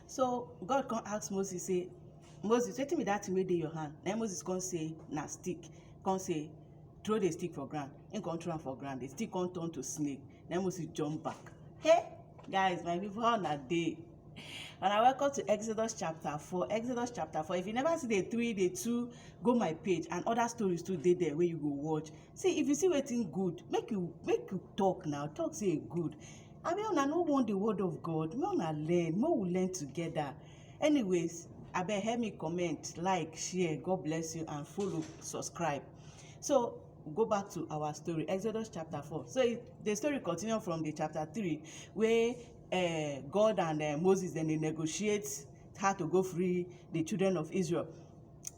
So God come ask Moses say, Moses, wetin be that thing wey dey your hand? Na Moses come say, na stick. Come say, throw the stick for ground. He come throw am for ground. The stick come turn to snake. Na Moses jump back. Hey, guys, my people, how una dey? And I welcome to Exodus chapter 4. Exodus chapter 4. If you never see the 3, the 2, go my page and other stories too dey there wey you go watch. see if you see wetin good make you make you talk now talk say e good abi una no want the word of god make una learn make we learn together anyways abeg help me comment like share god bless you and follow subscribe so go back to our story exodus chapter four so it, the story continue from the chapter three wey uh, god and uh, moses dem dey negotiate how to go free the children of israel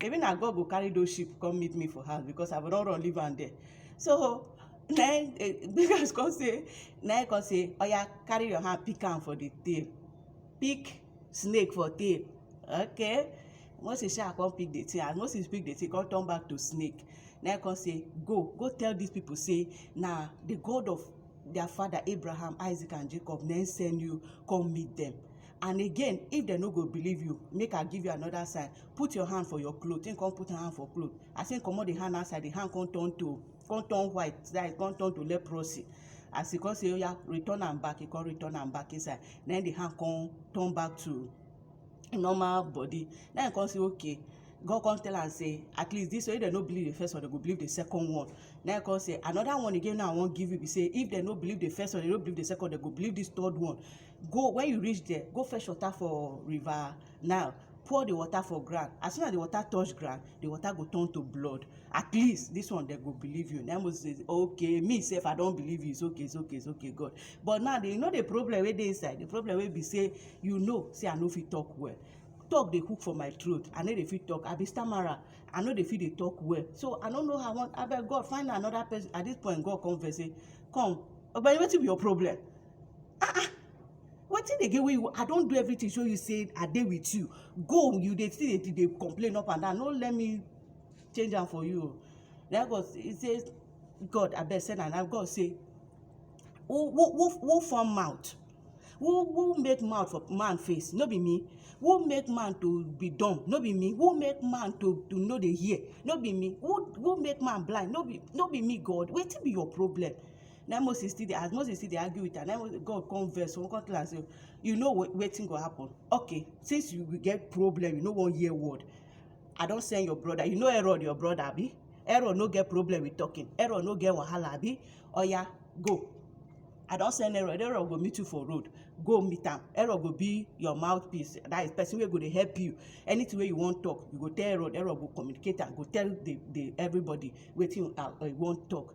Maybe na God go carry those sheep come meet me for house because I for don run leave am there. So na him eh, Bigas come say na him come say oya carry your hand pick am for the tail pick snake for tail okay Moses sha come pick the thing as Moses pick the thing come turn back to snake na him come say go go tell these people say na the God of their father Abraham Isaac and Jacob na him send you come meet them and again if dem no go believe you make i give you another sign put your hand for your cloth him come put him hand for cloth as him comot the hand outside the hand come turn to come turn white that is come turn to leprosy as he come say oya return am back he come return am back inside na him the hand come turn back to normal body na him come say okay God come tell am say at least this way if dem no believe the first one dem go believe the second one na him come say another one again now i wan give you be say if dem no believe the first one dem no believe the second one dem go believe this third one Go, when you reach there, go fetch water for river Nile, pour the water for ground. As soon as the water touch ground, the water go turn to blood. At least this one they go believe you. Then Moses says, okay, me self, I don't believe you. It's okay, it's okay, it's okay, God. But now, they know the problem where they inside. The problem where be say, you know, say I know if you talk well. talk dey hook for my throat i no dey fit talk i be stammerer i no dey fit dey talk well so i no know how i wan abeg god find another person at this point god come vex say come ogbeni wetin be your problem ah ah wetin again wey you i don do everything show you say i dey with you go you dey still dey dey complain up and down no let me change am for you na god he say god abeg send am na god say who who who who form mouth who who make mouth for man face no be me who make man to be dumb no be me who make man to to no dey hear no be me who who make man blind no be no be me god wetin be your problem na moses still dey as moses still dey argue with am na god come vex come come tell am say you know wetin go happen okay since you get problem you no wan hear word i don send your brother you know herod your brother abi herod no get problem with talking herod no get wahala abi oya go i don send herod herod go meet you for road go meet am herod go be your mouthpiece that is person wey go dey help you anything wey you wan talk you go tell herod herod go communicate am go tell the the everybody wetin you uh, uh, wan talk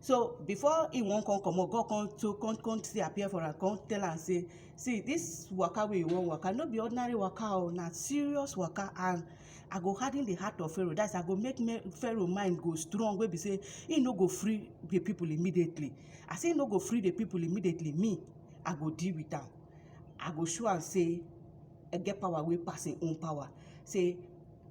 so before he wan come comot god come to come come still appear for am come tell am say see this waka wey you wan waka no be ordinary waka o oh, na serious waka and i go harden the heart of pharaoh that's i go make me, pharaoh mind go strong wey be say he no go free the people immediately as he no go free the people immediately me i go deal with am i go show am say i get power wey pass im own power say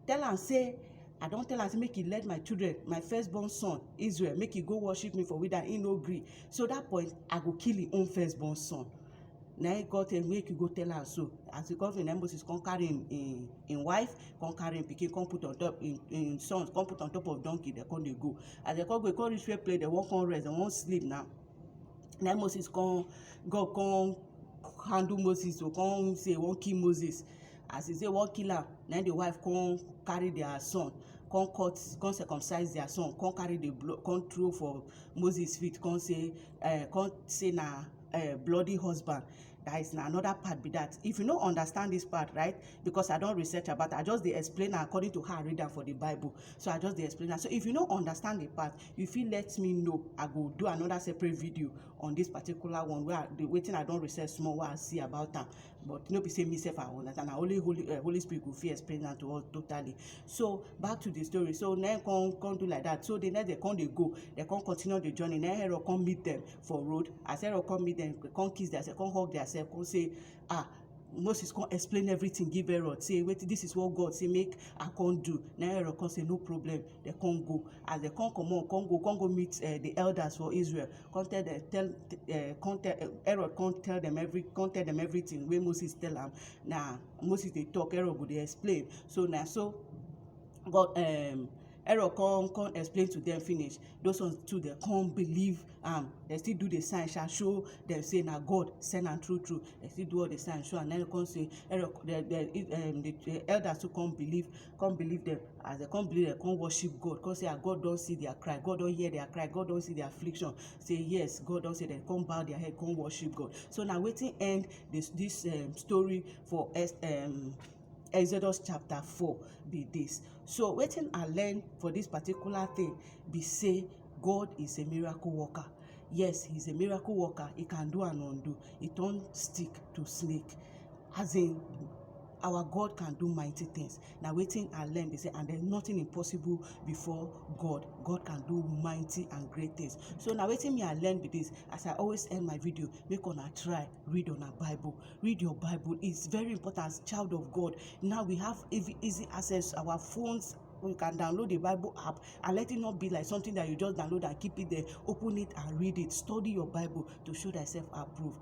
tell am say i don tell am say make he let my children my first born son israel make he go worship me for wilderness he no gree so that point i go kill him own first born son na him god tell make you go tell am so as he come finish na him moses come carry him him him wife come carry him pikin come put on top him him sons come put on top of donkey dem come dey go as dem come go e come reach where place dem wan come rest dem wan sleep now na him moses come god come handle moses o come say he wan kill moses as he say wan kill am na him the wife come carry their son come cut come circumcise their son come carry the blood come throw for moses feet come say uh, come say na uh, bloody husband that is na another part be that if you no understand this part right because i don research about i just dey explain am according to how i read am for the bible so i just dey explain am so if you no understand the part you fit let me know i go do another separate video on this particular one wey i the wetin i don research small wey i see about am but no be say me sef I understand na only holy uh, holy spirit go fit explain am to us totally so back to the story so na come come do like that so the next day come dey go they come continue the journey na herod come meet them for road as herod come meet them come kiss their self come hug their self come say ah moses come explain everything give herod say wetin this is what god say make i come do na herod come say no problem they come go as they come comot come go come go meet uh, the elders for israel come tell dem tell uh, come tell uh, Aaron come tell them every come tell them everything wey Moses tell am na Moses dey talk Aaron go dey explain so na so God um, Aaron come come explain to them finish those ones too dey come believe am dem still do the sign sha show dem say na God send am true true dem still do all the sign show am na come say Aaron the the um, the elders too come believe come believe dem as dem come believe dem come worship God come say ah God don see their cry God don hear their cry God don see their affliction say yes God don say dem come bow their head come worship God so na wetin end this this um, story for um, Exodus chapter four be this so wetin I learn for this particular thing be say God is a miracle worker yes he's a miracle worker he can do and undo he turn stick to snake As in our God can do mighty things na wetin I learn be say and then nothing impossible before God God can do mighty and great things so na wetin me I learn be this as I always end my video make una try read una bible read your bible it's very important as child of God now we have easy access to our phones you can download the Bible app and let it not be like something that you just download and keep it there. Open it and read it. Study your Bible to show thyself approved.